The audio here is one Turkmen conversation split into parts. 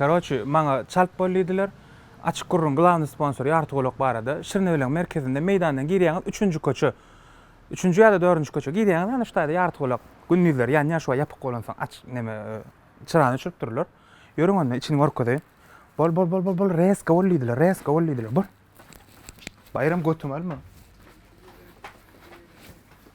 Karoçi, maňa çalt bol diýdiler. Açyk gürrüň, glawny sponsor Ýarty golak barada. Şirnebeleň merkezinde meýdandan girýäňiz, üçünji köçe. Üçünji ýa-da dördünji köçe. Girýäňiz, ana şu taýda Ýarty golak. Gündizler ýanýaş we ýapyk bolansoň aç, neme, çyrany öçürip dururlar. Ýörüň onda, içini görkezeýin. Bol, bol, bol, bol, bol, rezka bol diýdiler, rezka bol diýdiler. Bol. Baýram götüňi alma.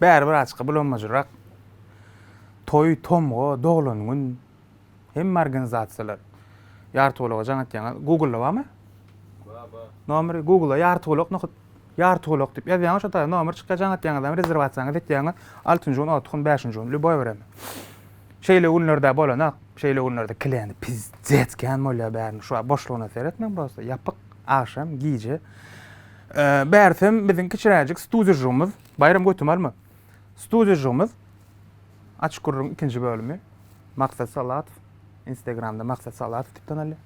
Bäri bir açyka bulanmajyrak. Toý, tomga, doglan gün hemme organizasiýalar ýartygulaga jaň atýaňyz. Google-da barmy? Bar, bar. Nomeri Google-a ýartygulak nohut, ýartygulak diýip ýazýaňyz, şo taýda nomer çykýar, jaň atýaňyz hem rezerwasiýaňyzy etýäňiz. Altynjy gün, orta gün, bäşinji gün, lýuboý bir hem. Şeýle günler-dä bolanok. Şeýle günlerde kliýent pizdec kän bolýar bäriniň. Şu wagt boşlugyna seretmäň prosta. Ýapyk, agşam, gije. Bärsem biziň kiçiräjik studýajygymyz, Baýram götümi alma. Studýajygymyz Açyk gürrüň ikinji bölümi. Maksat Salatow. Instagramda Maksat Salatow diýip tanalýar.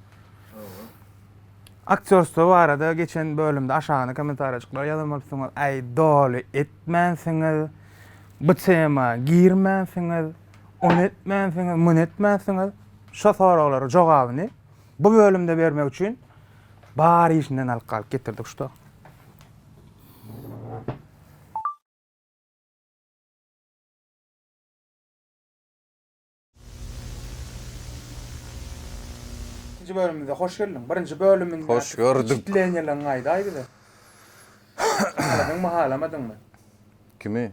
Aktýorstwo barada geçen bölümde aşagyna kommentariýajyklara ýazan bolupsyňyz. Aý doly etmänsiňiz. Bu tema girmänsiňiz. Ony etmänsiňiz, muny etmänsiňiz. Şo soraglara jogabyny bu bölümde bermek üçin Bar işinden alyp galyp getirdik şuda. Ikinji bölümimize hoş geldiň. Birinji bölüminde Hoş gördük. wpeçitleniýalaryňy aýdaý bize. Mahalamadyňmy? Kimi?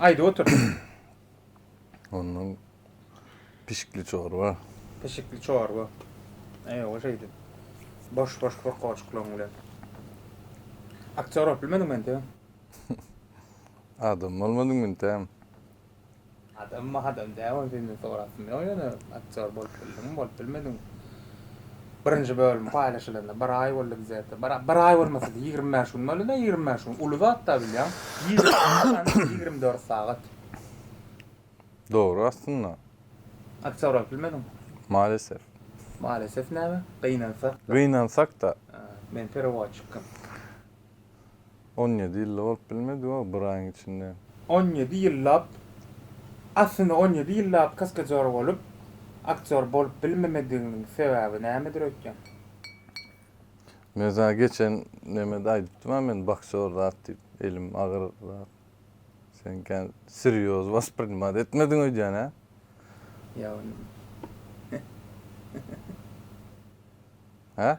Aýdyp otur. Ondan pişikli çorba. Pişikli çorba. Eý, o şeydi. Boş boş bir koçuklan bile. Aktör olup bilmedin men de. Adam olmadın men de. Adam ma adam däl ony senden sorasym ýok ýöne aktýor bolup bildiňmi bolup bilmediňmi birinji bölüm paýlaşylanda bir aý boldy bizede bir bir aý bolmasady ýigrimi bäş gün boldyda ýigrimi bäş gün uly zatda bilýäň ýigrimi dört sagat Dogry aslynda. Aktýor bolup bilmediňmi? Malesef. Malesef näme? Gynansak. Gynansak-da. Men perewoçikim. On ýedi ýylda bolup bilmedi-ow bir aýyň içinde. On ýedi ýyllap, aslynda on ýedi ýyllap kaskadýor bolup, aktýor bolup bilmemediginiň sebäbi nämedir öýtýäň? Meza geçen nemede aýdypdym-a men boksýor zat diýip, elim agyr zat. Sen kän serýoz wasprinmat etmediň öýdýän-ä? Ýa ony. Hä?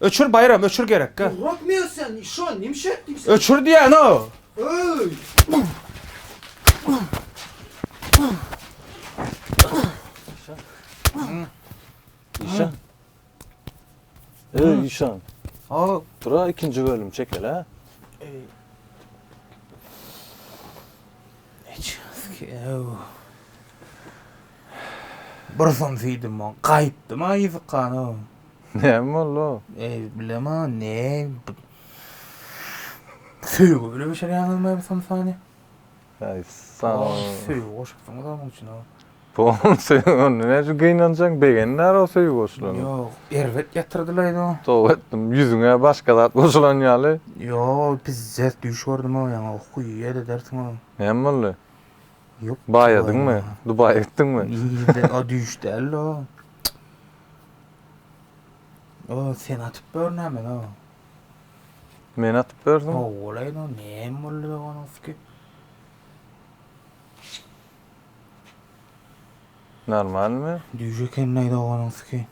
Öçür Baýram öçür gerek gel. Burak men sen işo nimşe etdim sen. Öçür diýen o. Öy. Işan. Öy işan. Aa. Dura ikinci bölüm çekel ha. Bir syn süýdüm on gaýypdyma ýyzykana. Näme boldy? Eý, bilema, ne? Söýgi bile bişirýäňiz me bu samsany? Eý, sag ol. Söýgi goşupsyňyz onuň üçin o. Bu söýgi onda näçe gynanjaň, begenmär o söýgi goşulany. Ýok, erbet ýatyrdylaýda o. Toba etdim, ýüzüňe başga zat goşulan ýaly. Ýok, ol pizzet düýş gördüm o, ýaňa okuw ýer edersiň o. Näme boldy? Ýok. Baýadyňmy? Dubaýa gitdiňmi? O düýş däldi o. O sen atyp ber näme o? Men atyp berdim. O olaýyn o näme boldy doganowski? Normalmi? Düýş ekenleý doganowski.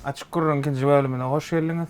Açyk gürrüň ikinji bölümine hoş geldiňiz.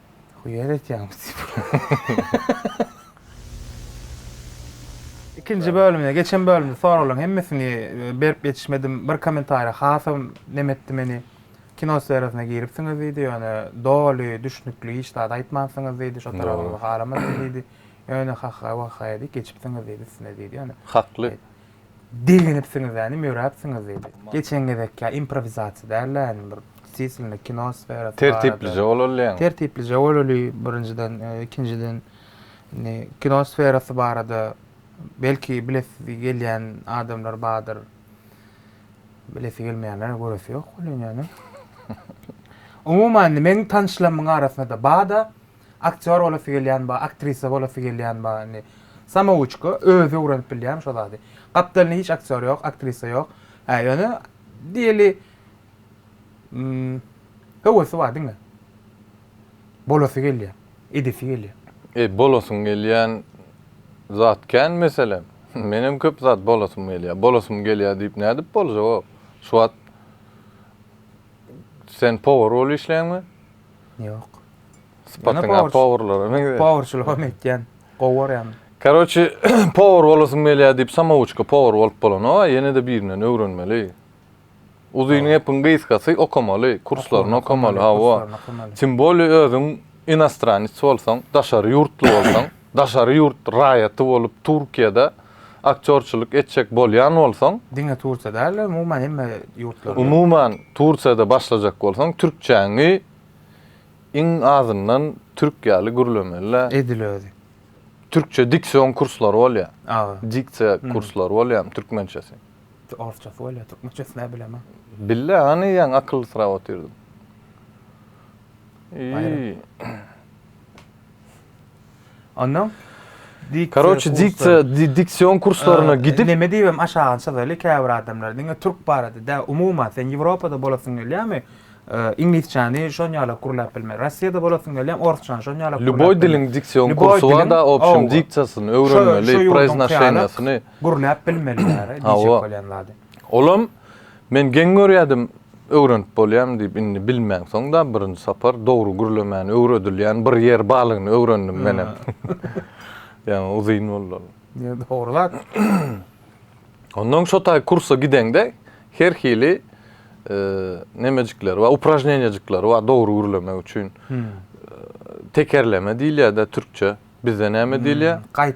Huýer etýäňiz diýip. Ikinji bölümine geçen bölümde soraglaryň hemmesini e, berip ýetişmedim. Bir kommentariýa hasam nem etdi meni. Kino sferasyna giripsiňiz diýdi, ýöne doly, düşnükli hiç zat aýtmansyňyz diýdi, şo tarabyňyzy garamadym diýdi. Ýöne ha-ha, wah-ha diýip geçipsiňiz diýdi üstüne diýdi, ýöne. Hakly. Begenipsiňiz-ä, nim ýöräpsiňiz? diýdi. Geçen gezekkä improwizasiýa däl-ä, indi bir stilinde kino sferasy barada. Tertiplije bolalyň. Tertiplije bolaly, birinjiden, ikinjiden, indi kino sferasy barada belki bilesi gelýän adamlar bardyr. Bilesi gelmeýänler-ä göresi ýok welin ýöne. Umuman, indi meň tanyşlarymyň arasynda-da bar-da, Aktýor bolasy gelýän bar, aktrisa bolasy gelýän bar indi. Samouçka, özi öwrenip bilýän şo zady. Gapdalynda hiç aktýor ýok, aktrisa ýok. Hä, ýöne diýeli höwesi bar diňe. Bolasy gelýär, edesi gelýär. Eý, bolasyň gelýän zat kän meselem. Menem köp zat bolasym gelýär, bolasym gelýär diýip nädip boljagok. Şu wagt sen powar bolup işleýäňmi? Ýok. Sypatyňa powurlara meňzeýär. Powurçylygam etýän. Gowy görýän. Karoçi powur bolasym gelýär diýip samawuçka powur bolup bolanoga ýenede birinden öwrenmeli. Uzyny gepiň gysgasy okamaly, kurslaryny okamaly, hawa. Timbolýe özüň inastranets bolsaň, daşary ýurtly bolsaň. Daşary ýurt raýaty bolup Turkiýada aktýorçylyk etjek bolýan bolsaň. Diňe Turkiýa däl de umuman hemme ýurtlarda. Umuman Turkiýada başlajak bolsaň türkçäňi iň azyndan türk ýaly gürlemelä. Edil özi. Türkçe diksion kurslary bolýa. Aga. Diksiýa kurslary bolýamy türkmençesi. Orsçasy bolýa türkmençesi nä bilemä. Bille hany ýaňy akylly syrap otyrdym. Iýi. Ondan Karoçi diktsiýa diksion kurslaryna gidip Neme diýibem aşagyny çyzaly käbir adamlar diňe türk barada däl umuman sen Ýewropada bolasyň gelýärmi iňlisçäni şonýalak gürläp bilme Rossiýada bolasyň gelýärmi orsçany şonýalak Lýuboý diliň diksion kursy bar da obşem diksiýasyny öwrenmeli proýznosiýasyny gürläp bilmeli diýjek bolýan zady. Olam Men geň görýädim, öwrenip bolýamy diýip, indi bilmänsoň-da birinji sapar dogry gürlemäni öwredilýän bir ýer balygyny öwrendim menem. Ýaňy uzyn boldy ol. Ýe, dogry zat. Onnoň şo taý kursa gideňde her hili nemejikleri bar, upražneniýajyklary bar dogry gürlemek üçin. Tekerleme diýilýär-de türkçe. Bizde näme diýilýär? Gaýt.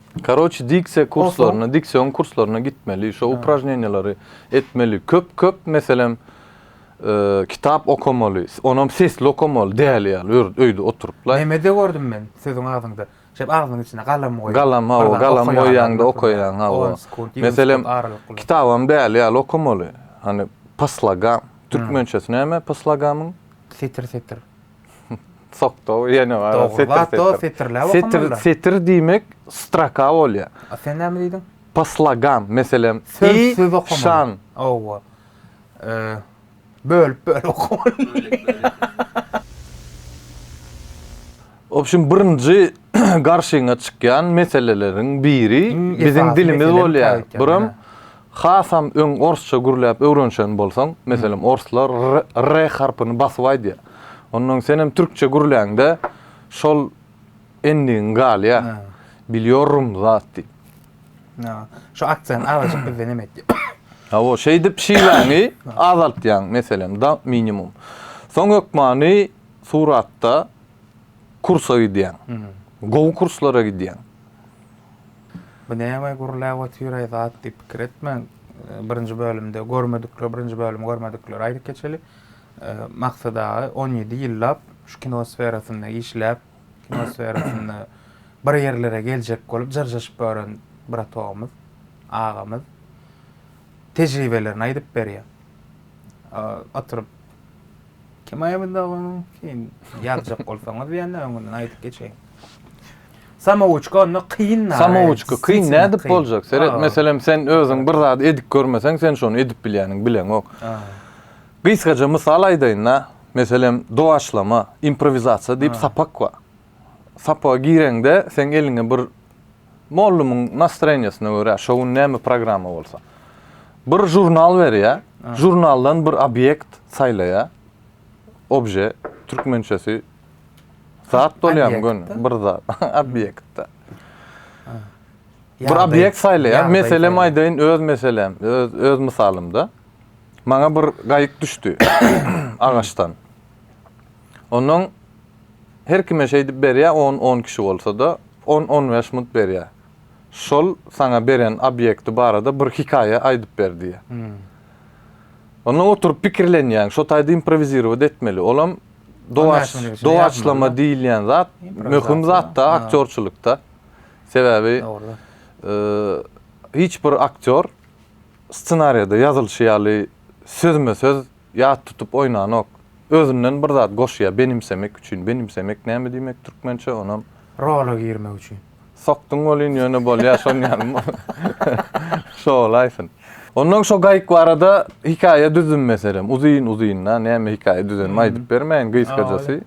Karoçi diksiýa kurslaryna, diksiýon kurslaryna gitmeli, şo upražneniýalary etmeli. Köp köp meselem kitap okamaly, onam sesli okamaly, däli ýaly ýörüp öýde oturyp laý. Nemede gördüm men siziň agzyňda, şeýdip agzynyň içine galam goýup. Galam hawa, galam goýýaňda okaýaň hawa. Meselem kitabam däli ýaly okamaly. Hany po slogam, türkmençesi näme po slogamyň? Setir setir. Sokto ýene bar. Dogrulat-da setirläp okanmaly. Setir diýmek stroka bolýar. A sen näme diýdiň? Po slogam, meselem, söz söz okamaly. Şan. Owa. Bölüp bölüp okamaly. Obşim birinji garşyňa çykýan meseleleriň biri biziň dilimiz bolýar. Buram Hasam öň orsça gürläp öwrenişen bolsaň, meselem, orslar r, r harpyny basyp aýdýar. Ondan öň senem türkçe gürläňde şol endigiň galýar. Bilýorrum zat diýip. Ýa, şu aksent azajyk bizde neme etýär? Hawa, şeýdip şiwaňy azaltýaň, meselem, da minimum. Soň hökmany suratda kursa gidýäň. Gowy kurslara gidýäň. Bu näme gürläp otyraý zat diýip pikir etmäň. Birinji bölümde görmedikler, birinji bölümi görmedikleri aýdyp geçeli. Maksat aga on ýedi ýyllap şu kino sferasynda işläp, kino sferasynda bir ýerlere geljek bolup jyrjaşyp ýören bratogymyz, agamyz tejribelerini aýdyp berýär. Oturyp Kemaýa Buzdagynyň sen ýazjak bolsaňyz ýa-da öňünden aýdyp geçeýin. Samowuçka onda kyn da. Samowuçka kyn nädip boljak? Seret, meselem, sen özüň bir zady edip görmeseň, sen şony edip bilýäniň bileňok. Gysgaja mysal aýdaýyn-da, meselem, dowaçlama, improwizasiýa diýip sapak bar. Sapaga gireňde, seň eliňe bir Mollumyň nastroýeniýasyna görä, şo gün näme programma bolsa. Bir žurnal berýär, žurnaldan bir obýekt saýlaýar. Obje, türkmençesi zat bolýarmy göni? Bir zat, obýekt-de. Bir obýekt saýlaýar, meselem aýdaýyn, öz meselem, öz, öz mysalymda. Maňa bir gaýyk düşdi agaçdan. Onnoň her kime şeýdip berýä on on kişi bolsada on on bäş munt berýä şol saňa beren obýekti barada bir hikaýa aýdyp ber diýýä onnoň oturyp pikirlenýäň şo taýda improwizirować etmeli olam dowaç dowaçlama diýilýän zat möhüm zatda aktýorçylykda sebäbi hiç bir aktýor ssenariýada ýazylyşy ýaly sözme söz Ýat tutup oýnanok. Özünden bir zat goşýa benimsemek üçin, benimsemek näme diýmek türkmençe onam. Rola girmek üçin. Sokduň welin ýöne bolýa şon ýaly şo bolaýsyn. Ondan şo gaýyk barada hikaýa düzdüm meselem uzyn uzyn da näme hikaýa düzenim aýdyp bermäýin gysgajasy.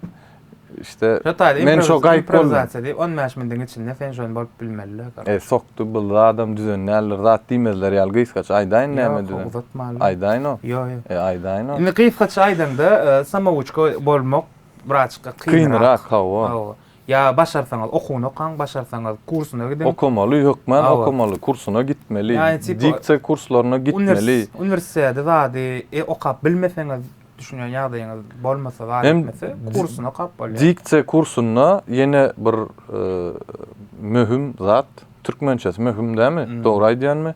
İşte Şu taýda men şo gaýyp boldum. improvizatsiýa diýip 15 minutiň içinde sen şony bolup bilmeli. E, sokdy bul zadam düzen däldir. Zat diýmezler ýaly gysgaça aýdaýyn näme düzen. Ýok, uzatmaly. Aýdaýyn o. Ýok, ýok. E, aýdaýyn o. Indi gysgaça aýdaňda, e, samouçka bolmak birazçyk kynrak. Kynrak, hawa. Hawa. Ýa başarsaňyz okuwyny okaň, başarsaňyz kursuna gidiň. Okamaly, hökmän Hawa. okamaly, kursuna gitmeli. Ýa, tipa, Diksiýa kurslaryna gitmeli. Univers, uniwersiteti zady e, okap bilmeseňiz, düşünýän ýagdaýyňyz bolmasa, bar Hem etmese, kursuna okap bolýar. Diksiýa kursunda ýene bir e, möhüm zat, türkmençesi möhüm dämi? Hmm. Dogry aýdýanmy?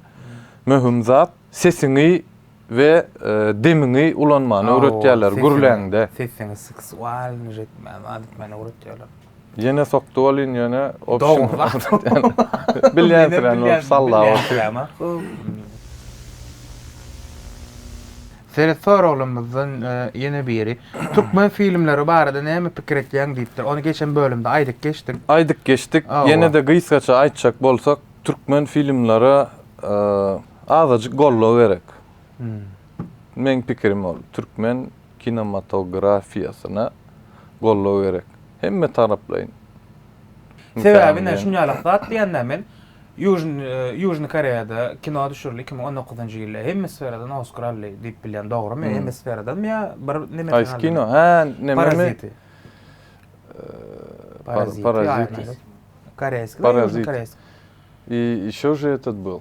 Möhüm zat sesiňi we e, demiňi ulanmany Aw, öwretýärler sesiň- gürläňde. Sesiňi seksualnyj etmän, zat etmäni öwretýärler. Ýene sokdy welin ýöne opşin bilýänsiräni bolup salla boldy. Seret soraglarymyzdan ýene biri. Türkmen filmleri barada näme pikir etýäň diýipdir. Ony geçen bölümde aýdyp geçdik. Aýdyp geçdik. Ýene-de gysgaça aýtjak bolsak, türkmen filmlere azajyk goldaw gerek. Meň pikirim ol. Türkmen kinematografiýasyna goldaw gerek. Hemme taraplaýyn. Sebäbi ine şuny ýalak zat diýende men Ýužny Koreýada kino düşürildi iki müň on dokuzynjy ýylda hemme sferadan Oskar aldy diýip bilýän dogrymy hemme sferadanmy ýa bir nemesini aldy? Haýsy kino hä nememi? Paraziti. Paraziti. Paraziti. Koreýski. Paraziti. I ýeşo je etet bil.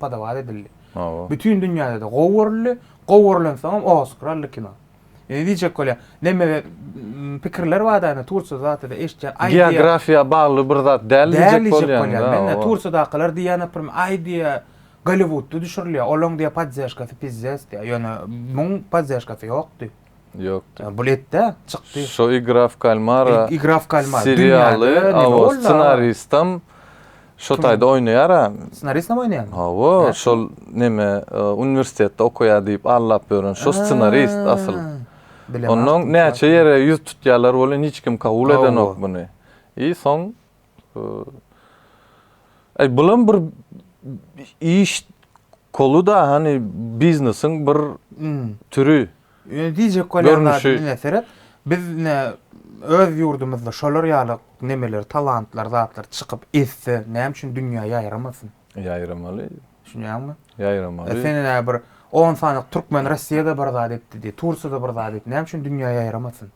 padawat edildi. Bütin dünýäde-de gowy görüldi. Gowy görlensoňam Oskar aldy kino. Indi diýjek bolýar, neme pikirler bar-da, indi Tursiýada zatda-da eşitýän, aý diýýän. Geografiýa bagly bir zat däl diýjek bolýan. Däl diýjek bolýan. Tursiýadakylar diýýän, naprimýr, aý diýýär, Golliwudda düşürilýär, olaň diýýär poddežkasy pizzes diýýär. Ýöne muň poddežkasy ýokdy. Ýokdy. Ýa buletde çykdy. Şo Igra w kalmara. Igra w kalmara. Serialy awa ssenaristam şo taýda oýnaýar a. Ssenaristam oýnaýarmy? Hawa, şol neme uniwersitetde okaýar diýip aldap ýören şo ssenarist asyl. Onnoň näçe ýere ýüz tutýarlar welin hiç kim kabul edenok muny. I soň Eý, bulam bir iş kolu-da, hany biznesiň bir türü. Ýöne diýjek bolýan zadym diňe seret, biz ine öz ýurdumyzda şolar ýaly nemeler, talantlar, zatlar çykyp ezse, näme üçin dünýä ýaýramasyn? Ýaýramaly. Düşünýäňmi? Ýaýramaly. Sen ine bir on sanyk türkmen Russiýada bir zat etdi diý, Tursiýada bir zat etdi, näme üçin dünýä ýaýramasyn?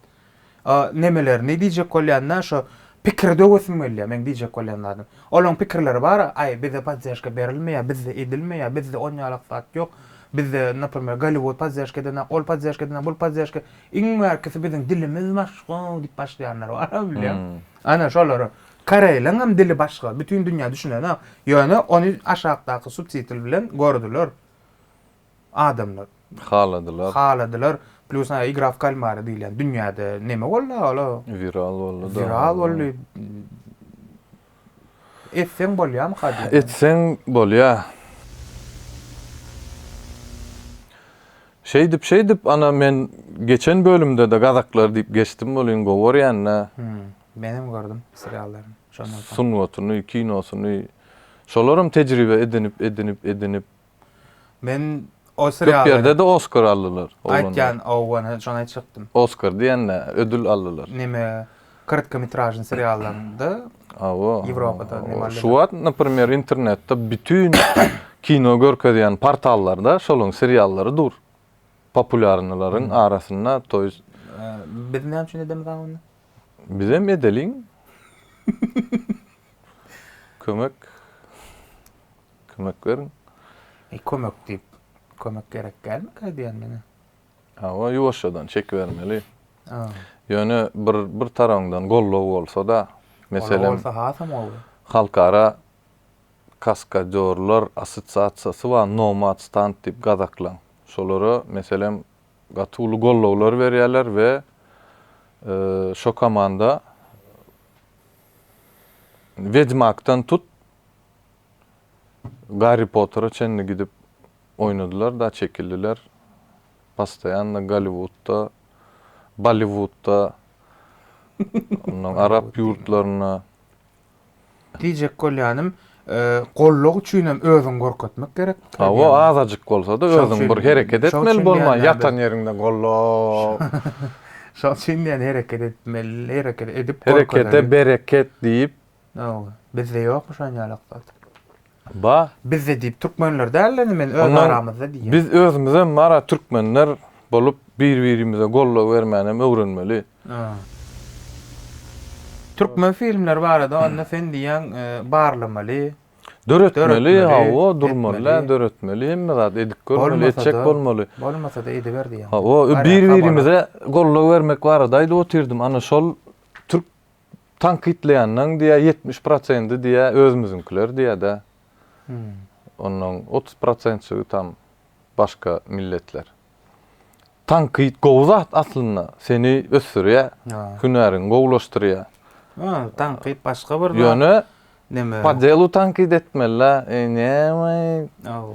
O nemelerni diýjek bolýanda şo pikiri döwesim gelýär meň diýjek bolýan zadym. Olaň pikirleri bar, aý bize poddežka berilmeýär, bizde edilmeýär, bizde onýalak zat ýok, bizde naprmer Golliwud poddežka edenak, ol poddežka edenak, bul poddežka, iň bärkisi biziň dilimiz başga diýip başlaýanlar bar bilýän. Ana şolara koreýlaň hem dili başga, bütin dünýä düşünenak, ýöne ony aşakdaky subtitl bilen gördüler. adamlar. Haladylar. Haladylar. Plus a igra w kalmara diýilýän dünýäde neme boldy aga ol? Wiral boldy da. Wiral boldy. Etseň bolýamyka diýýän. Etseň bolýa. Şeýdip şeýdip ana men geçen bölümdede gazaklar diýip geçdim welin gowy görýända. Hum. Menem gördüm seriallaryny şondan soň. Sungatyny, kinosyny. Şolaram tejribe edinip edinip edinip. Men o serialda. Köp ýerde de Oskar aldylar. Aýtýan owan hem şony aýtjakdym. Oskar diýende ödül aldylar. Neme kyrtka mitražny seriallarynda. Awa. Ýewropada neme aldylar. Şu wagt naprimer internetde bütin kino görkezýän portallarda şolaň seriallary dur. Populýarnylaryň arasynda to ýest. Biz näme üçin edemiz a onda? Bizem edeliň. Kömek. Kömek beriň. E kömek diýip, kömek gerek dälmik aýdýan meni? Hawa, ýuwaşjadan çekibermeli. Ýöne bir bir tarabyňdan goldaw bolsa-da, meselem. Goldaw bolsa hasam gowy. Halkara kaskadýorlar assosiasiýasy bar, Nomad Stand diýip gazaklaň. Şolara meselem gaty uly goldawlar berýärler we şo komanda Wedmakdan tut, Garri Pottera çenli gidip oýnadylar-da çekildiler. Postoýanno Golliwudda, Bolliwudda, onnoň arap ýurtlarynda. Diýjek bolýanym, gollag üçinem özüňi görkezmek gerek. Hawa, azajyk bolsa-da özüň bir hereket etmeli bolmaly, ýatan ýeriňde gollag. Şoň üçin diýýän hereket etmeli, hereket edip görkezeli. Herekete bereket diýip, Ýok, bizde ýokmy şon ýaly yksat? Ba. Bizde diýip türkmenler däl indi men öz aramyzda diýýän. Biz özümizem mara türkmenler bolup bir-birimize goldaw bermänem öwrenmeli. Türkmen filmleri barada onda sen diýýäň barlamaly. Döretmeli hawa durmaly döretmeli hemme zat edip görmeli etjek bolmaly. Bolmasada ediber diýýäň. Hawa bir-birimize goldaw bermek barada aýdyp otyrdym ana şol Tankytlaýanlaň diýä ýetmiş prosendi diýä özümiziňkiler diýädä. Onnoň otuz prosentçigi tam başga milletler. Tankyt gowy zat aslynda, seni ösdürýä, hünäriňi gowulaşdyrýa. Hä, tankyt başga bir zat. Ýöne neme? Padelu tankyt etmelä, eý näme? Aw.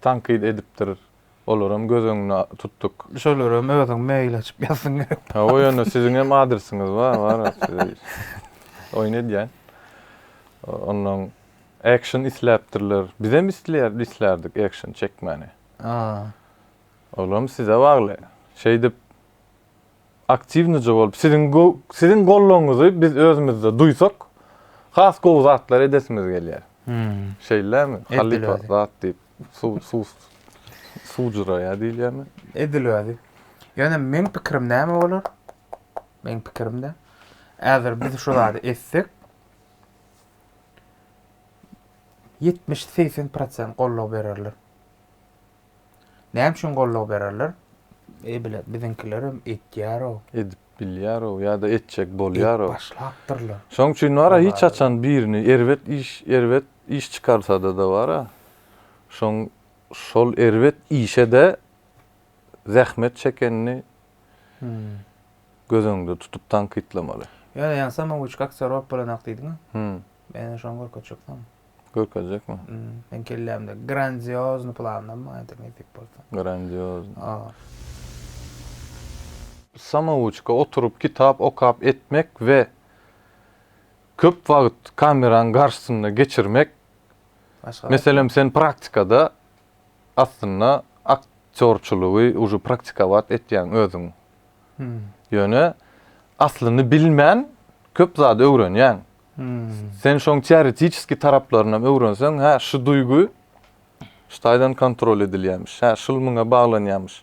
tankyt edipdir, olaram göz öňüne tutduk. Şolaram özüň mail açyp ýazsyň gerek. Hawa ýöne siziň hem adresiňiz bar bar size oýun edýän. Onnoň action isläpdirler. Bizem isleýär islärdik action çekmäni. Olam size bagly. Şeýdip aktiwnije bolup, siziň siziň gollugyňyzy biz özümizde duýsak, has gowy zatlar edesimiz gelýär. Şeýlemi? Halypa zat diýip, suw suw suwjuraýar diýilýärmi? Edil özi. Ýöne meň pikirim näme bolar? Meň pikirimde, häzir biz şu zady etsek, 70-80% gollugy bererler. Näme üçin goldaw bererler? E bile biziňkilerem etýär-ow. Edip bilýär-ow ýa-da etjek bolýar-ow. Edip başlapdyrlar. Şoň üçin bar-a hiç haçan birini erbet iş erbet iş çykarsada-da bar-a, şoň şol erbet işe-de zähmet çekenini göz öňünde tutup tankytlamaly. Ýöne ýaňsam Owiçka Aksarow bolanok diýdiň-ä? Hä. Men şoňa görkezjek saňa. Görkezjekmi? Men kellämde grandiozni planlarym bar indi nesip bolsa. Grandiozni. Aa. Samouçka oturyp kitap okap etmek we köp wagt kameraň garşysynda geçirmek meselem sen praktikada aslynda aktyorçylygy uje praktikowat etýäň özüň ýöne aslyny bilmän köp zady öwrenýäň Sen şoň teoretiçeski taraplarynam öwrenseň, hä, şu duýgy şu taýdan kontrol edilýämiş, hä, şul muňa baglanýamyş.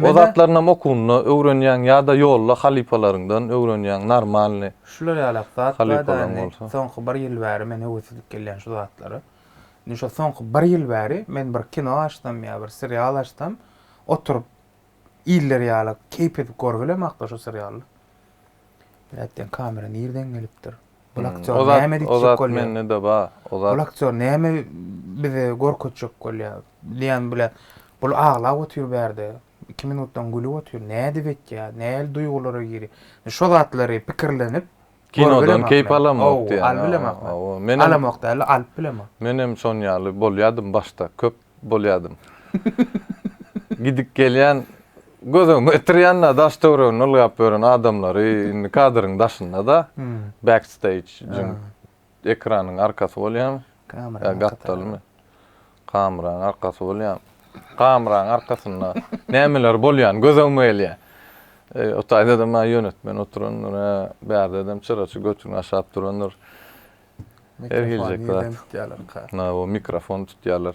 O zatlarynam okuwynda öwrenýäň ýa-da ýolda halypalaryňdan öwrenýäň, normalny. Şular ýalak zat bar-da indi, soňky bir ýyl bäri men höwesizlik gelýän şu zatlara. Indi şo soňky bir ýyl bäri men bir kino açsam ýa bir serial açsam, oturyp, iller ýaly keýp edip görgilem hakda şu serialda. Blät diýen kamera nirden gelipdir? Bu aktýor hmm. näme edip bolýar? Ozat mende de bar. Ozat. Bu aktýor näme bize gorkutjak bolýar? Diýen blät. Bu aglap otyr bärde. 2 minutdan gülüp otyr. Nädip etýär? Näli duýgulara giri? Şu zatlary pikirlenip, Kinodan keýp alamok diýýär. Alyp bilemok. Menem alamok däl-de, alyp bilemok. Menem şon ýaly bolýadym başda, köp bolýadym. Gidip gelýän, göz öňüme getirýän-de daş-töweregini ylgap ýören adamlary, indi kadryň daşynda-da, backstage-iň Ekranyň arkasy bolýamy? Kameraň gapdalymy? Kameraň arkasy bolýamy? Kameraň arkasynda nämeler bolýan gözegime gelýär. O taýda da maňa ýönetmen oturandyr, hä, bärde dem çyraçy götüni aşap durandyr. Her hiljek zat. Mikrofon tutýarlar.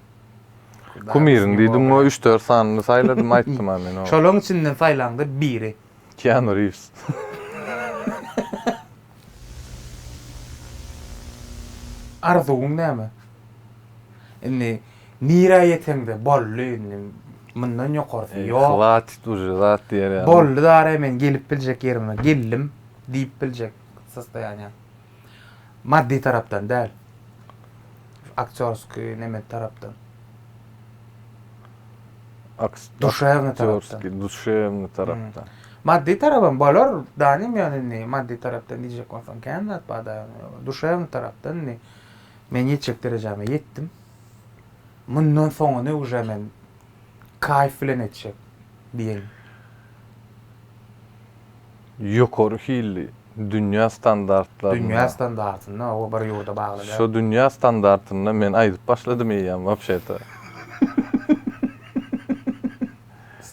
Kumyryň diýdim we üç dört sanyny saýladym aýtdym-a men oňa. Şolaň içinden saýlaňdyr biri. Keanu Reeves. Arzuwyň näme? Indi nirä ýeseňde boldy indi mundan ýokarsy ýok. Hwatit uje zat diýer ýaly. Boldy dara men gelip biljek ýerime geldim diýip biljek sostoýanýa. Maddy tarapdan däl. Aktýorskiý neme tarapdan. Duşewny tarapdan. Duşewny tarapdan. Maddy tarapam bolar, danym ýöne indi maddy tarapdan diýjek bolsaň kän zat barda. Duşewny tarapdan indi men ýetjek derejäme ýetdim. Mundan soňuny uje men Kaýf bilen etjek diýeýin. Ýokary hilli, dünýä standartlarynda. Dünýä standartynda, o bir ýurda bagly däl. Şo dünýä standartynda men aýdyp başladym eýýäm wapşe-de.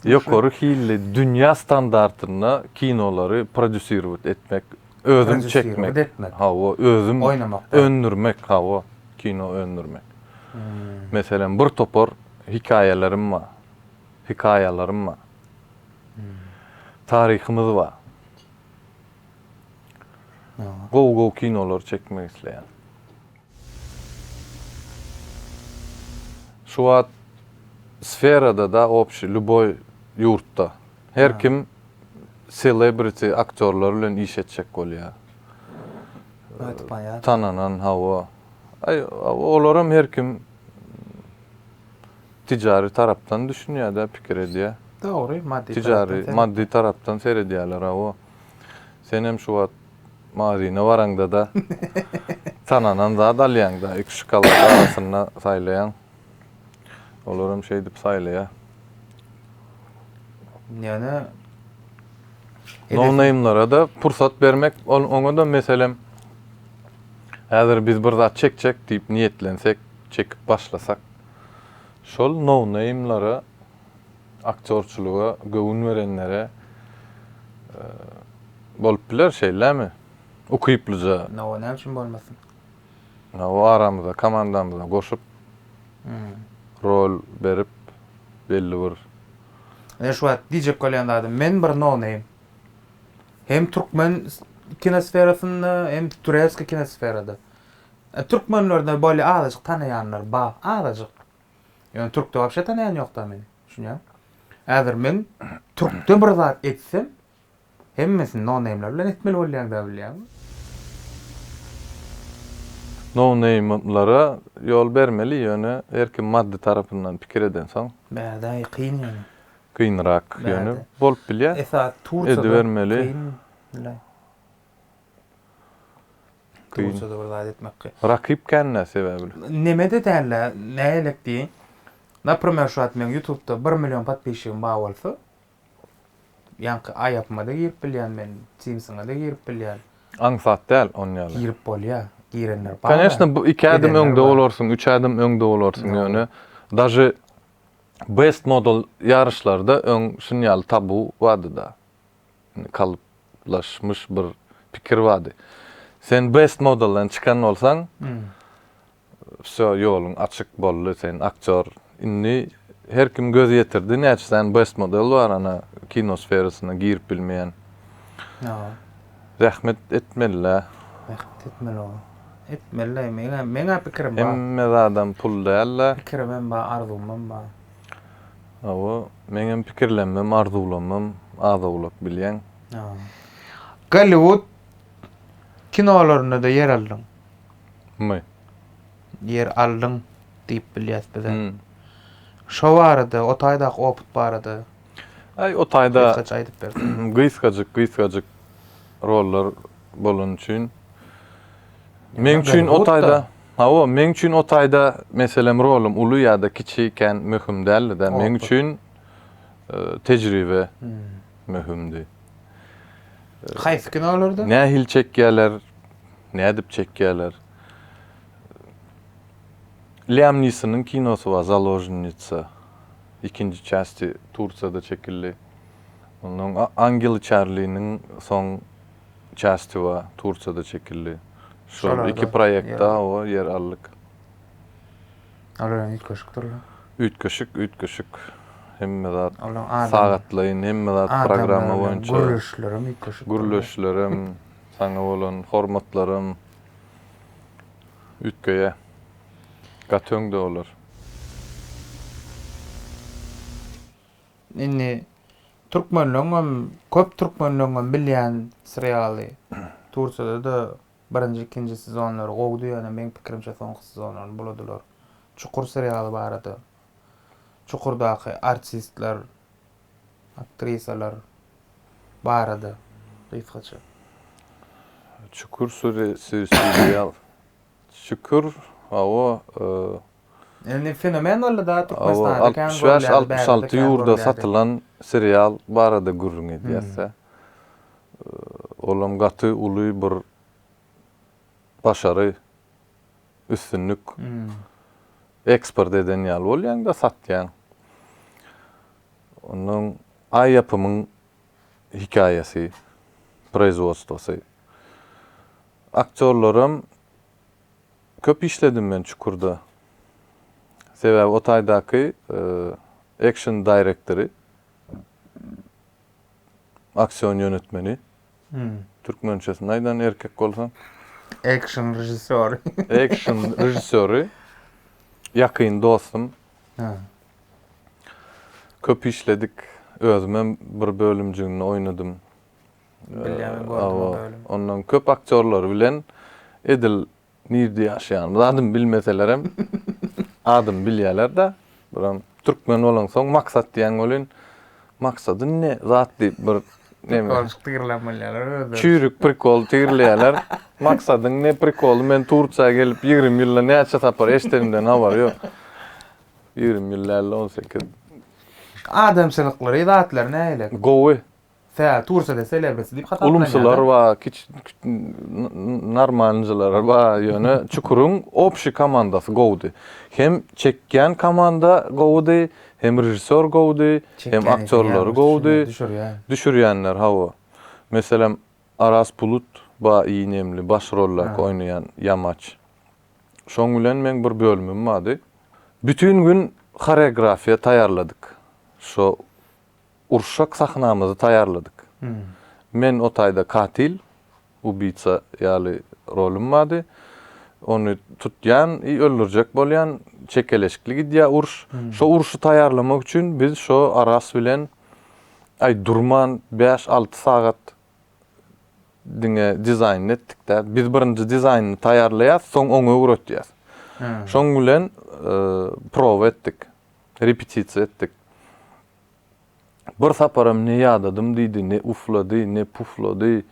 Ýokary hilli, dünýä standartynda kinolary prodýusirowat etmek Özüm çekmek. Hawa, özüm öndürmek, hawa, kino öndürmek. Meselem, bir topar hikaýalarym bar. Hikaýalarym bar. Taryhymyz bar. Gowy-gowy kinolar çekmek isleýän. Şu wagt sferada da obşi lýuboý ýurtda her kim selebriti aktýorlar bilen iş etjek bolýa. Ötüp baýar. Tananan hawa. Aý olaram her kim tijari tarapdan düşünýä da pikir edýä. Dogry maddy tarapdan. Tijari maddy tarapdan seredýäler hawa. Senem şu wagt Magazine baraňda-da tananan zat alýaň-da, iki şokolady arasynda saýlaýaň. Olar hem şeýdip saýlaýar. Ýöne Nownamlara-da pursat bermek, ol oňa-da meselem, häzir biz bir zat çekjek diýip niýetlensek, çekip başlasak, şol nownamlara Aktýorçylyga göwün berenlere bolup biler, şeýlemi? Ukyplyja. Hawa, näme üçin bolmasyn? Hawa, aramyza, komandamyza goşup, rol berip, belli bir. Men şu wagt diýjek bolýan zadym, men bir no-name. Hem türkmen kinosferasynda, hem tureskiý kinosferada. Türkmenlerde bolýa azajyk tanaýanlar bar, azajyk. Ýöne türkde wapşe tanaýan ýokda meni. Düşünýäňmi? Häzir men türkde bir zat etsem, hemmesini no-neýmler bilen etmeli bolýan-da bilýäňmi? No-neýmlara ýol bermeli, ýöne her kim maddy tarapyndan pikir edensoň. Bärde-aý kyn ýöne. Kynrak ýöne bolup bilýär. Esasy Turkiýada kyn. Kyn. Bolsa-da bir zat etmekki. Rakyp kän nä sebäbli? Neme-de däl-ä, nägelik diýiň. Naprimer şu wagt meň ýutubda bir million podpisçigim bar bolsa, ýaňky aýapyma-da girip bilýän men, timsiňe-de girip bilýän. Aňsat däl onuň ýaly. Girip bolýar, girenler bar-da. Koneçna bu iki ädim öňde bolarsyň, üç ädim öňde bolarsyň ýöne daže best model ýaryşlarda öň şuny ýaly tabu bardy-da. kalyplaşmyş bir pikir bardy. Sen best modelden çykan bolsaň, wsýo, ýoluň açyk boldy, sen aktýor. Indi her kim göz ýetirdi, näçe sany best model bar, ana, kino sferasyna girip bilmeýän. Zähmet etmeli-dä. Zähmet etmeli ol. Etmeli-dä, meň-ä, meň-ä pikirim bar. Hemme zadam pul däl-dä. Pikirimem bar, arzuwymam bar. Hawa, meňem pikirlenmem, arzuwlanmam az-owlak bilýäň. Golliwud kinolarynda-da ýer aldyň. My? Ýer aldyň diýip bilýäs biz-ä. Şo barada, o taýdaky opyt barada gysgaça aýdyp berseň. Gysgajyk, gysgajyk rollar bolany üçin. Meň üçin o taýda. Hawa, meň üçin o taýda meselem rolum uly ýa-da kiçi ikän möhüm däldi-dä. Meň üçin tejribe möhümdi. Haýsy kinolarda? Nähili çekýärler, nädip çekýärler. Liam Nisonyň kinosy bar, Založnitsa. Ikinji çästi Tursiýada çekildi. Ondan Angel Çarliniň soň Çastiwa Tursiýada çekildi. Şol iki proýektde hawa ýer aldyk. Olar hem üýtgeşikdirler. Üýtgeşik, üýtgeşik. Hemme zat sagatlaýyn, hemme zat programma boýunça. Gürleşler hem üýtgeşik. Gürleşler hem, saňa bolan hormatlar hem üýtgeýär. Gaty öňde olar. Indi türkmenleňňem köp türkmenleňňem bilýän serialy Tursiýada da birinji ikinji sezonlary gowdy ýöne meň pikirimçe soňky sezonlaryny buladylar. Çukur serialy barada Çukurdaky artistler aktrisalar barada gysgaça. Çukur suri si serial. Çukur hawa Indi fenomen boldy da Türkmenistanda kän görülýär. Altmyş bäş, altmyş alty ýurda satylan serial barada gürrüň edýäs-dä. Olam gaty uly bir başary, üstünlik. Eksport eden ýaly bolýaň-da, satýaň. Onnoň Aý ýapymyň hekaýasy, proizwodstwosy. Aktýorlaram. Köp işledim men Çukurda. Sebäbi o taýdaky action direktory, aksion ýönetmeni, türkmençesini aýdan erkek bolsa. Action režissýory. Action režissýory, ýakyn dostum. Köp işledik. Özüm hem bir bölümjiginde oýnadym. Bilýän gördim. Ondan köp aktýorlar bilen edil nirde ýaşaýanymyzy adymy bilmeselerem adymy bilýäler-de. Buram türkmen bolansoň Maksat diýen welin Maksadyn ne zat diýip bir Prikolçyk tigirlän bolýarlar özleri. Çüýrük prikol tigirleýärler. Maksadyň ne prikoly men Tursiýa gelip ýigrimi ýylda näçe sapar eşidenimden habar ýok. Ýigrimi ýyl däl-de on sekiz. Adamçylyklary zatlary nähili? Gowy. Tä tursada selebriti diýip hasaplanýar. Ulumsylar bar, kiç normalnyjylar bar, ýöne Çukuryň obşi komandasy gowudy. Hem çekýän komanda gowudy, hem režissýor gowudy, hem aktýorlary gowudy. Düşürýänler hawa. Meselem, Aras Bulut bar i nemli baş rollark oýnaýan ýamaç. Şoň bilen meň bir bölümim bardy. Bütin gün horeografiýa taýýarladyk. Şo Urşak sahnamyzy taýýarladyk. Men o taýda katyl, ubiýtsa, ýaly rolum bardy. Ony tutýan i öldürjek bolýan, çekeleşikli gidýär uruş. Şo uruşy taýýarlamak üçin biz şo Aras bilen aý durman bäş-alty sagat diňe dizaýnyny etdik-de. Biz birinji dizaýnyny taýýarlaýas, soň oňa öwretýäs. Şoň bilen prowa etdik, repetisiýa etdik. Bir saparam ne ýadadym diýdi, ne uflady, ne puflady.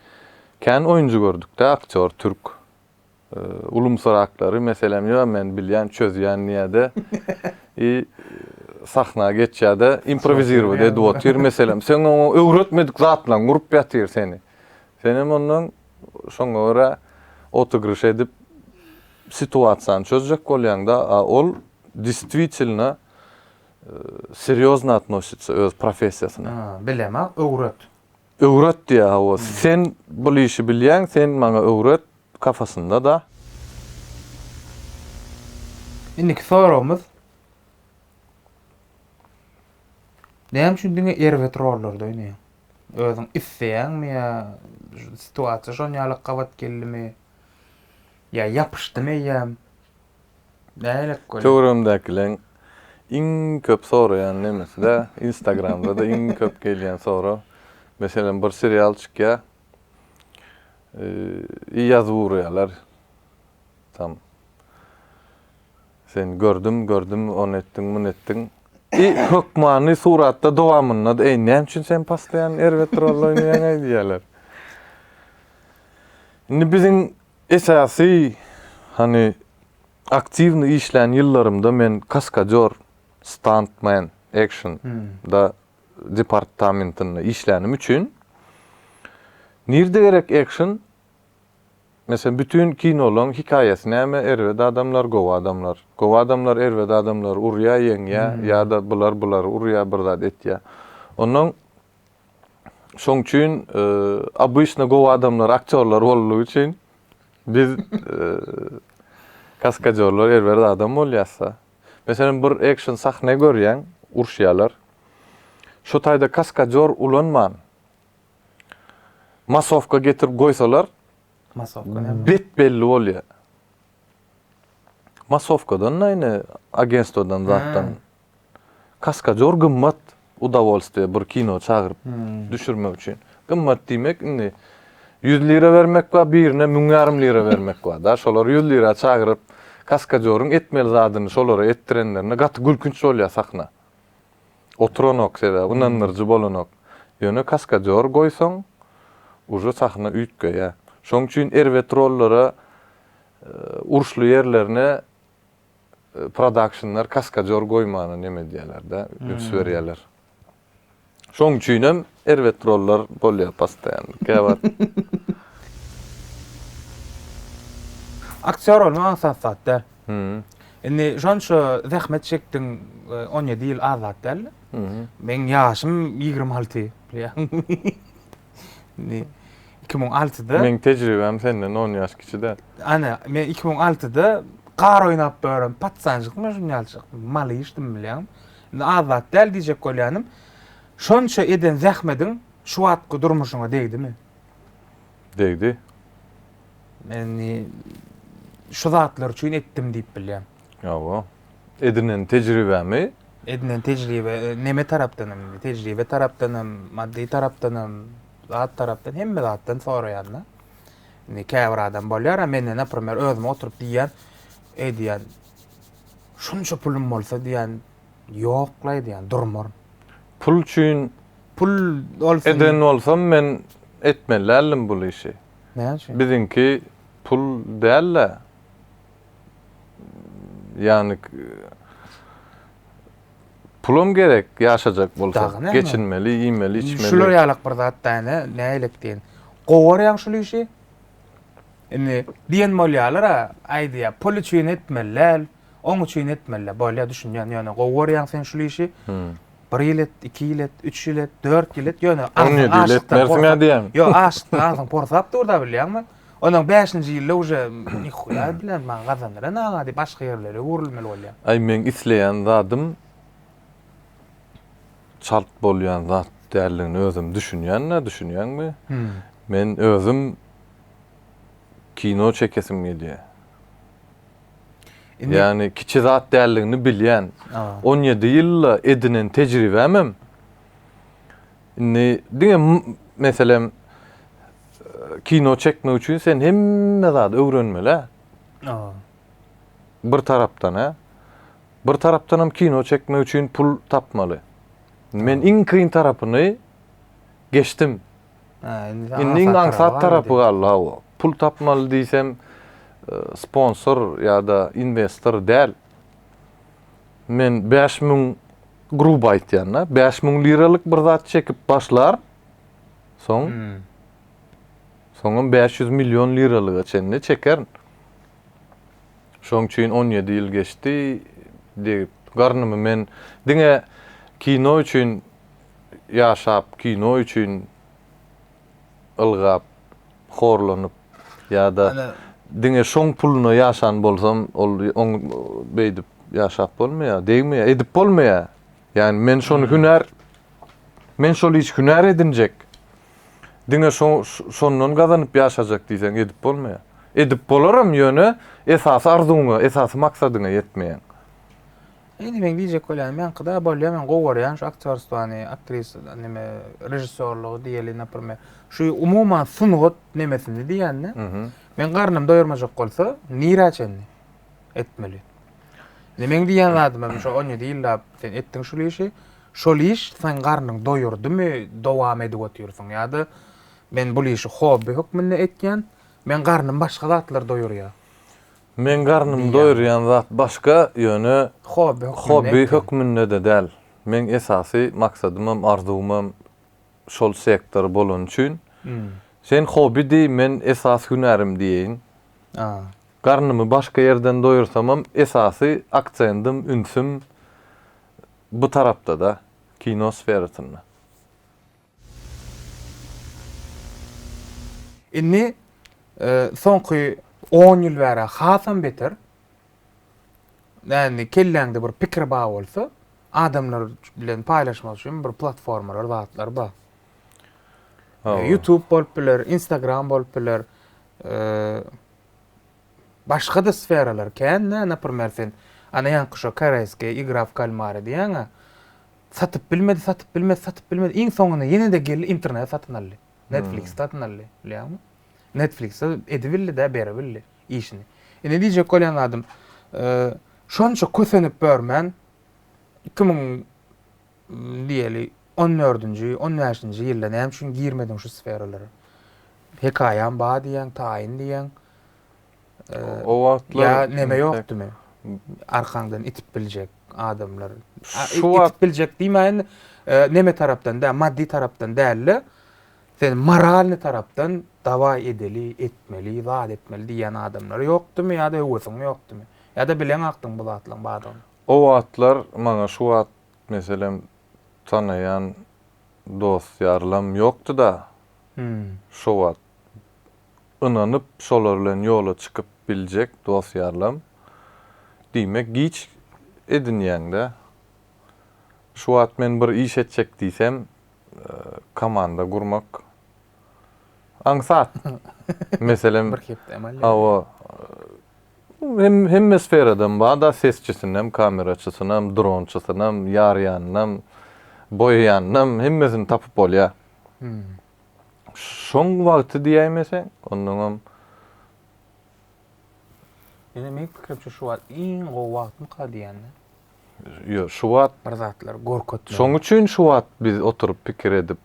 Kän oýunjy gördük-dä aktýor türk. Ulumsyraklary, meselem, ýo, men bilýän, çözýän diýýä-de i sahna geçýä-de improwizirować edip otyr, meselem, seň oňa öwretmedik zatlaň urup ýatyr seni. Senem onnoň şoňa görä otygryş edip situasiýany çözjek bolýaň-da, a ol distwitilno serýozno atnositsa öz professiýasyna. Bilemä, öwret. Öwret diýä hawa. Sen bul işi bilýäň, sen maňa öwret kafasynda-da. Indiki soragymyz. Näme üçin diňe erbet rollarda oýnaýaň? Özüň isleýäňmi ýa situasiýa şonýaly gabat geldimi? Ýa ýapyşdymy eýýäm? Bälek gören. Töweregimdäkileriň iň köp soraýan nemesi-de, Instagramda-da iň köp gelýän sorag, meselem, bir serial çykýar, i ýazyp urýarlar tam. Sen gördüm, gördüm, ony etdiň, muny etdiň. I hökmany suratda dowamynda-da, eý, näme üçin sen postoýan erbet rol oýnaýaň-aý diýýärler. Indi biziň Esasy, hany, aktiwnyý işlän ýyllarymda men kaskadýor, stuntman, action, da departamentinde işlänim üçin, nirde gerek action, meselem, bütin kinolaň hikaýasy näme, erbet adamlar, gowy adamlar, gowy adamlar erbet adamlary urýa, ýeňýä, ýa-da bular bulary urýa, bir zat etýä. Onnoň Şoň üçin obyçny gowy adamlar aktýorlar boldugy üçin biz kaskadýorlar erbet adam bolýasda. Meselem bir ekşn sahne görýäň, uruşýarlar. Şu taýda kaskadýor ulanman masowka getirip goýsalar bet belli bolýar. Masowkadan-da ine agentstwodan zatdan Kaskadýor gymmat udawolstwiýe bir kino çagyryp düşürmek üçin. Gymmat diýmek indi ýüz lira bermek bar, birine müň ýarym lira bermek bar-da. Şolary ýüz lira çagyryp, kaskadýoryň etmeli zadyny şolara etdirenlerine gaty gülkünç bolýar sahna. Oturanok sebäbi, ynandyryjy bolanok. Ýöne kaskadýor goýsaň, uje sahna üýtgeýär. Şoň üçin erbet rollara, uruşly ýerlerine, prodakşnlar kaskadýor goýmana neme edýärlerde üns berýärler. Şoň üçinem erbet rollar bolýar postaýan. Käwagt Aktýor bolmak aňsat zat däl. Indi şonça zähmet çekdiň, on ýedi ýyl az zat däldi. Meň ýaşym ýigrimi alty, bilýäňmi? Indi 2006-da Meň tejribäm senden on ýaş kiçi däl. Ana, men 2006-da gar oýnap bören patsanjykmy şun ýalçyk, malyşdym bilýäňmi. Indi az zat däl diýjek bolýanym. Şonça eden zähmediň şu wagtky durmuşyňa degdimi? Degdi. Men indi şu zatlar üçin etdim diýip bilýän. Hawa. edinen tejribemi? Edinen tejribe neme tarapdan hem tejribe tarapdan hem maddy tarapdan hem zat tarapdan hemme zatdan soraýanda indi käbir adam bolýar mende naprimer özüm oturyp diýýän eý diýýän şunça pulum bolsa diýýän ýokla diýýän durmaryn pul üçin pul bolsa eden bolsam men etmeli däldim bu işi näme üçin biziňki pul däl-de ýany pulam gerek ýaşajak bolsa, geçinmeli, iýmeli, içmeli. Şular ýalak bir zat däne, nälik diýen. Gowarýaň şul işi. Indi diýen bolýalar-a, aýdýa, pul üçin etmeli däl, oň üçin etmeli. Bolýa düşünýän, ýöne gowarýaň sen şul işi. Bir ýyl et, iki ýyl et, üç ýyl et, dört ýyl et, ýöne aňyň aşykdan. Ýok, aşykdan aňyň porsap dur-da bilýäňmi? Ondan bäşinji ýylda uje nihuýa bilen maňa gazandyran aga diýip başga ýerlere öwrülmeli bolýar. Aý meň isleýän zadym çalt bolýan zat däldigini özüm düşünýän-ä düşünýäňmi? Men özüm kino çekesim gelýär. Ýagny kiçi zat däldigini bilýän. On ýedi ýylda edinen tejribämem Indi diňe meselem kino çekmek üçin sen hemme zady öwrenmeli. Bir tarapdan he. Bir tarapdan hem kino çekmek üçin pul tapmaly. Men iň kyn tarapyny geçdim. Indi iň aňsat tarapy galdy hawa. Pul tapmaly diýsem e, sponsor ýa-da investor däl. Men bäş müň, gruby aýtýan-da, bäş müň liralyk bir zat çekip başlar, soň, soňam bäş ýüz million liralyga çenli çekerin. Şoň üçin on ýedi ýyl geçdi, degip, garnymy men diňe kino üçin ýaşap, kino üçin. ylgap, horlanyp ýa-da diňe şoň puluna ýaşan bolsam, ol oň beýdip ýaşap bolmaýar, degmeýär, edip bolmaýar. Ýagny men şony hünär, men şol işi hünär edinjek, diňe şo, şondan gazanyp ýaşajak diýseň edip bolmaýar. Edip bolaram, ýöne esasy arzuwyňa, esasy maksadyňa ýetmeýäň. Indi meň diýjek bolýanym ýaňkyda bolýa men gowy görýän şu aktýorstwany, aktrisa neme režissýorlygy diýeli naprme şu umuman sungat nemesini diýende men garnym doýurmajak bolsa nirä çenli etmeli. Indi meň diýen zadym şu 17 ýyllap sen etdiň şul işi şol iş seň garnyň doýurdymy dowam edip otyrsyň ýa-da men bul işi hobbi hökmünde etýän men garnym başga zatlar doýurýa. Meň garnymy doýurýan zat başga, ýöne hobby hökmünde-de däl. Meň esasy maksadymam, arzuwymam şol sektor bolany üçin, sen hobby diý, men esasy hünärim diýeýin. Garnymy başga ýerden doýursamam, esasy aksendym, ünsüm bu tarapda-da, kino sferasynda. Indi soňky on ýyl bäri hasam beter. Näni kelläňde bir pikir bar bolsa, adamlar bilen paýlaşmak üçin bir platformalar, zatlar bar. YouTube bolup biler, Instagram bolup biler. Başga-da sferalar kän, näme, naprimer, sen ana ýaňky şo koreýski igra w kalmary diýýäň-ä. Satyp bilmedi, satyp bilmedi, satyp bilmedi. Iň soňunda ýene-de geldi interneti satyn aldy. Netflix satyn aldy. Bilýäňmi? Netflix-de edibildi-de, beribildi işini. Indi diýjek bolýan zadym, şonça kösenip börmän, iki müň, diýeli, on dördünji, on bäşinji ýylda näme üçin girmediň şu sferalara? Hekaýam bar diýýäň, taýyn diýýäň. O wagtlar ýa neme ýokdumy? Arkaňdan itip biljek adamlar. Şu wagt itip biljek diýmäýin, e, neme tarapdan da, maddi tarapdan dälde, sen moralny tarapdan dawaý edeli, etmeli, zat etmeli diýýän adamlar ýokdumy ýa-da höwesiň ýokdumy? Ýa-da bileň akdyň bu zatlaryň bardygyny? O wagtlar maňa şu wagt meselem tanaýan dost-ýarlam ýokdy-da. Hmm. Şu wagt ynanyp şolar bilen ýola çykyp biljek dos ýarlam diýmek giç edinýäňdä şu wagt men bir iş etjek diýsem komanda gurmak aňsat meselem hawa hemme sferadan barda sesçisinäm kameraçysynam dronçysynam ýarýanynam boýaýanynam hemmesini tapyp bolýa Şoň wagty diýäýmeseň, onnoňam Ýöne meniň pikirimçe şu wagt iň gowy wagtmyka diýende. Ýo, şu wagt bir zatlar gorkutmaly. Şoň üçin şu wagt biz oturyp pikir edip,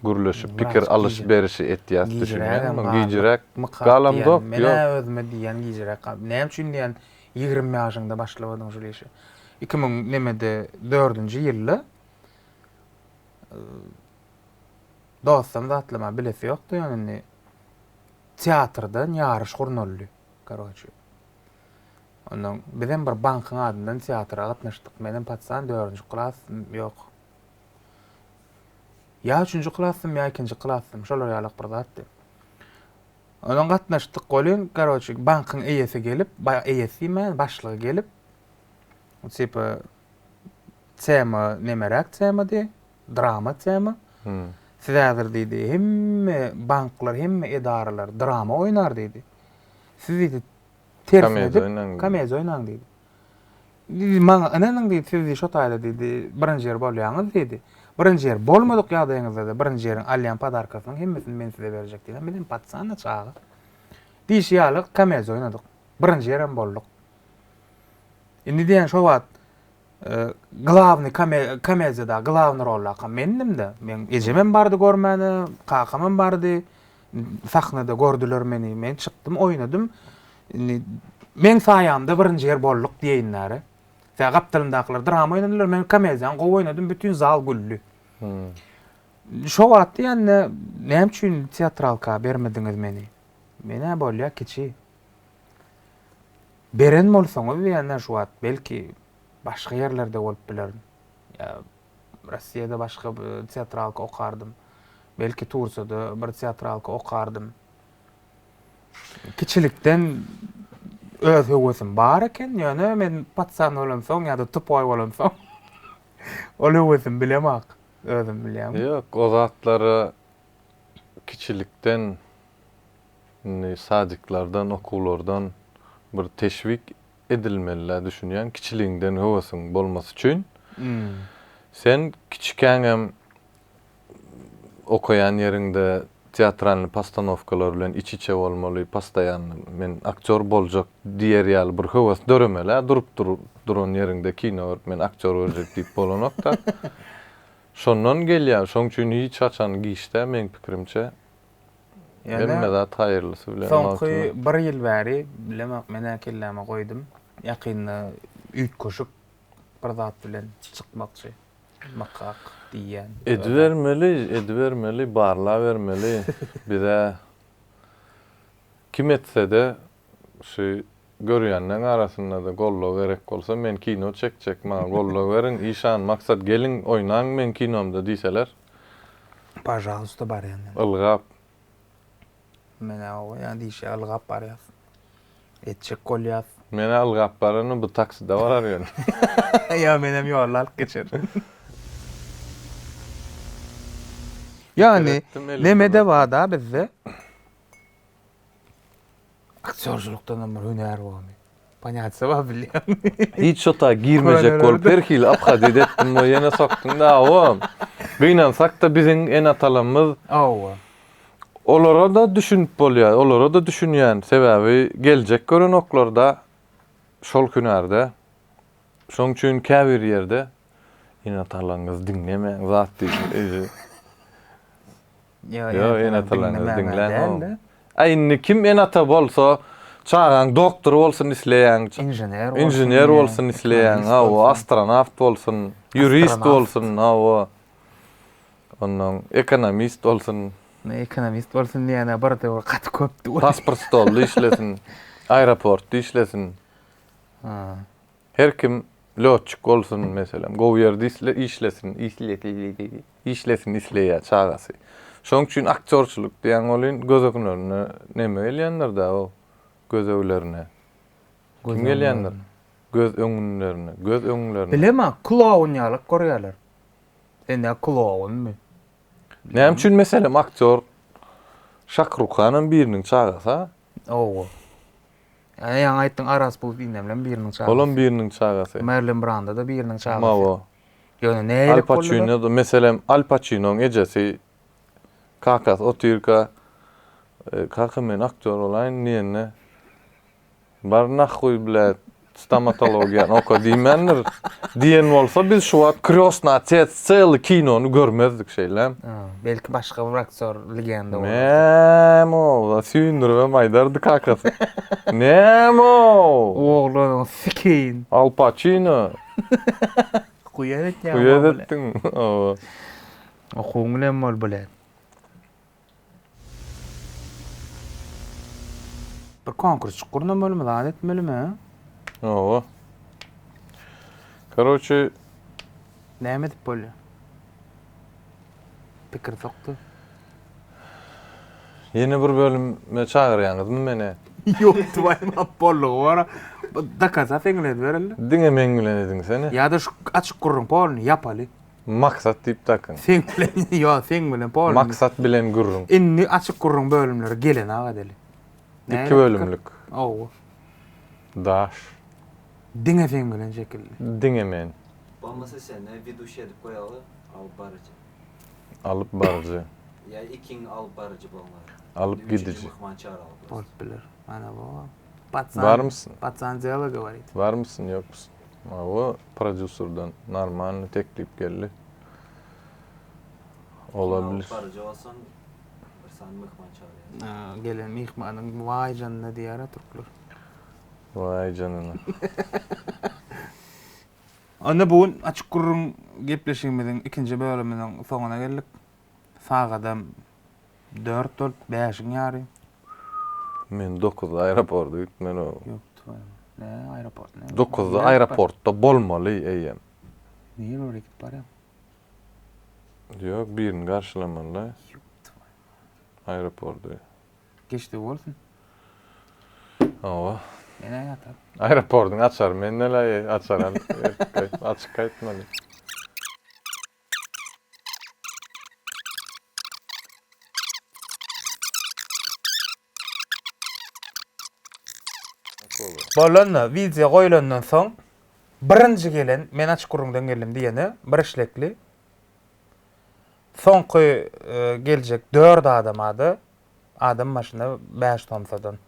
gürleşip, pikir alyş-berişi etýäs düşünýäňmi? Gijräk galamzok. Men özüme diýýän gijräk galdy. Näme üçin diýýän, ýigrimi ýaşyňda başlawadyň şul işe. Iki müň nemede dördünji ýylda dostam zatlama bilesi ýokdy ýöne indi teatrdan ýaryş gurnaldy karoçe ondan bizem bir bankyň adyndan teatra gatnaşdyk menem patsan dördünji klas ýok ýa üçünji klasdym ýa ikinji klasdym şolar ýalak bir zatdy ondan gatnaşdyk welin karoçe bankyň eýesi gelip eýesi diýmän başlygy gelip tipa Tema nemeräk temady? Drama tema. Siz häzir diýdi, hemme banklar, hemme edaralar drama oýnar diýdi. Siz diýdi, tersine edip, komediýa oýnaň diýdi. Diýdi, maňa ynanyň diýdi, siz diýdi, şo taýda diýdi, birinji ýer bolýaňyz diýdi. Birinji ýer bolmadyk ýagdaýyňyzda-da, birinji ýeriň alýan podarkasynyň hemmesini men size berjek diýdim. Bizem paçjana çaga. Diýşi ýaly komediýa oýnadyk. Birinji ýerem bolduk. Indi diýýän şo wagt Glawny komediýada glawny rollakam mendimdä. Meň ejemem bardy görmäne, kakamam bardy. Sahnada gördüler meni. Men çykdym, oýnadym. Indi meň saýamda birinji ýer bolduk diýeýinler-ä. Sebäbi gapdalymdakylar drama oýnadylar, men komediýany gowy oýnadym, bütin zal güldi. Şo wagt diýende, näme üçin teatralka bermediňiz meni? Men-ä bolýa kiçi. Beren bolsaňyz diýenden şu wagt belki başga ýerlerde bolup bilerin. Ýa Russiýada başga teatralka okardym. Belki Tursiýada bir teatralka okardym. Kiçilikden öz höwesim bar eken, ýöne men patsan bolamsoň ýa-da tupoý bolamsoň ol höwesim bilemok. Özüm bilýän. Ýok, o zatlara kiçilikden indi sadiklerden okuwlardan bir teşwik edilmelidä düşünýän kiçiligiňden höwesiň bolmasy üçin sen kiçikäňem okaýan ýeriňde teatralnyý postanowkalar bilen iç içe bolmaly postoýanno men aktýor boljak diýer ýaly bir höwes döremelä durup duran ýeriňde kino görüp men aktýor görjek diýip bolanokda şondan gelýär şoň üçin hiç haçan giç däl meň pikirimçe Hemme zat haýyrlysy bilen bolsun. Soňky bir ýyl bäri, bilemok, men-ä kelläme goýdum. Ýakynda üýtgeşik bir zat bilen çykmakçy. Mykak diýýän. Edibermeli, edibermeli, barlabermeli. Biz-ä kim etse-de, şu görýänleň arasynda-da goldaw gerek bolsa, men kino çekjek, maňa goldaw beriň, işan, maksat, geliň, oýnaň meň kinomda diýseler. Pažalysta barýan men. Ylgap. Men-ä oba ýa diýşýä ylgap barýas. Etjek bolýas. Men-ä ylgap barany bu takside barar ýöne. Ýa menem ýoly alyp geçerin. Ýagny, neme-de bar-da bizde. Aktýorçylykdanam bir hünär bormy? Panýatsyz bar bilýän. Hiç şota girmejek bolup her hili obhadit etdim we ýene sokdum-da hawa. Gynansak-da biziň ene-atalarymyz. Hawa. Olara-da düşünip bolýar, olara-da düşünýän. Sebäbi geljek görenoklar-da şol hünärde. Şonuň üçin käbir ýerde ene-atalaryňyzy diňlemäň, zat diýsin özi. Ýo enatalaryňyzy diňläň oň. A indi kim enata bolsa çagaň doktor bolsun isleýäň. Inžener bolsun. Inžener bolsun isleýäň hawa astronawt bolsun, ýurist bolsun hawa. Onnoň ekonomist bolsun. Indi ekonomist bolsun diýene bir döwür gaty köpdi. Pasport stolda işlesin. Aeroportda işlesin. Her kim lötçik bolsun meselem gowy ýerde işlesin işlesin isleýä çagasy. Şoň üçin aktýorçylyk diýen welin göz öňlerine neme gelýändir-dä o gözeglerine. Kim gelýändir? Göz öňünlerine, göz öňlerine. Bilemä, kloun ýalak görýäler. Sen ýa klounmy? Näme üçin meselem aktýor Şakrukhanam biriniň çagasy-a? Owo. Ýa ýaňy aýtdyň Aras bul indemlem biriniň çagasy. Olam biriniň çagasy. Merlin Branda da biriniň çagasy. Mawo. Ýöne nälik boldy? Al Paçino da meselem Al Paçinoň ejesi kakasy otyrka kaka men aktýor bolaýyn diýende bar nahuý bläd Stomatologiýany oka diýmändir. Diýen bolsa biz şu wagt Krýostny otec çeýle kinony görmezdik şeýle. Belki başga bir aktýor legenda bolar. Näme ol? Süýndüribem aýdardy kakasy. Näme ol? Oglanyň sikeýin. Al Paçino. Guýa edýäň. Guýa edetdiň. Okuwyň bilen bol bilen. Bir konkursçyk gurnamalymy, zat etmelimi? Oba. Karoçi. Näme edip bolýar? Pikir sokdy. Ýene bir bölüme çagyrýaňyzmy meni? Ýok, tuwaýym ap bollugy bor. Dakasa seňle edibereli. Diňe meň bilen ediň seni. Ýa-da şu açyk gürrüň polny ýapaly. Maksat diýip dakyň. Seň bilen ýo seň bilen polny. Maksat bilen gürrüň. Indi açyk gürrüň bölümleri gelen aga deli. Iki bölümlik. Ow. Daş. Diňe seň bilen şekilli. Diňe men. Bolmasa seni widuşi edip goýaly alyp baryjy. Alyp baryjy. Ýa ikiň alyp baryjy bolňar. Alyp gidiji. Myhman çagyraly. Bolup biler. Ana bu. Barmysyň? Barmysyň ýokmysyň? Hawa, prodýuserden normalny teklip geldi. Ola bilir. Kino baryjy bolsaň, bir sany myhman çagyrýarsyň. A, gelen myhmanyň waý janyna diýýär-ä türkler. Waý janyna. Onda bu gün açyk gürrüň gepleşigimiziň ikinji bölüminiň soňuna geldik. Sagadam Dört böl bäşiň ýary. Men dokuzda aeroporta gitmeli boldum. Ýok, tüwä. Ne aeroport, ne? Dokuzda aeroportda bolmaly eýýäm. Niýe ýöne gidip barýaň? Ýok, birini garşylamaly-da. Ýok, tüwä. Aeroporda. Geçdi bolsun. Hawa. Menä ýatar. Aeroportyň açary mende-le, açar al. Açyk gaýtmaly. Bolanda, wideo goýlandan soň birinji gelen men açyk gürrüňden geldim diýene bir işlekli soňky geljek dört adama-da adam başyna bäş somsadan.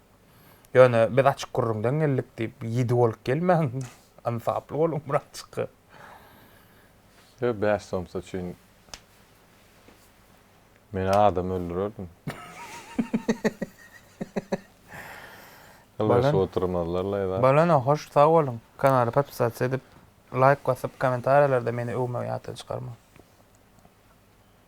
Ýöne biz açyk gürrüňden geldik diýip ýedi bolup gelmäň, ynsaply boluň birazjyk. Ýög bäş somsa üçin men adam öldürerdim. Ylgaşyp oturmazlar laýda. Bolana hoş sag boluň. Kanaly podpisatsa edip laýk basyp komentariýalarda meni öwmegi ýatdan çykarmaň.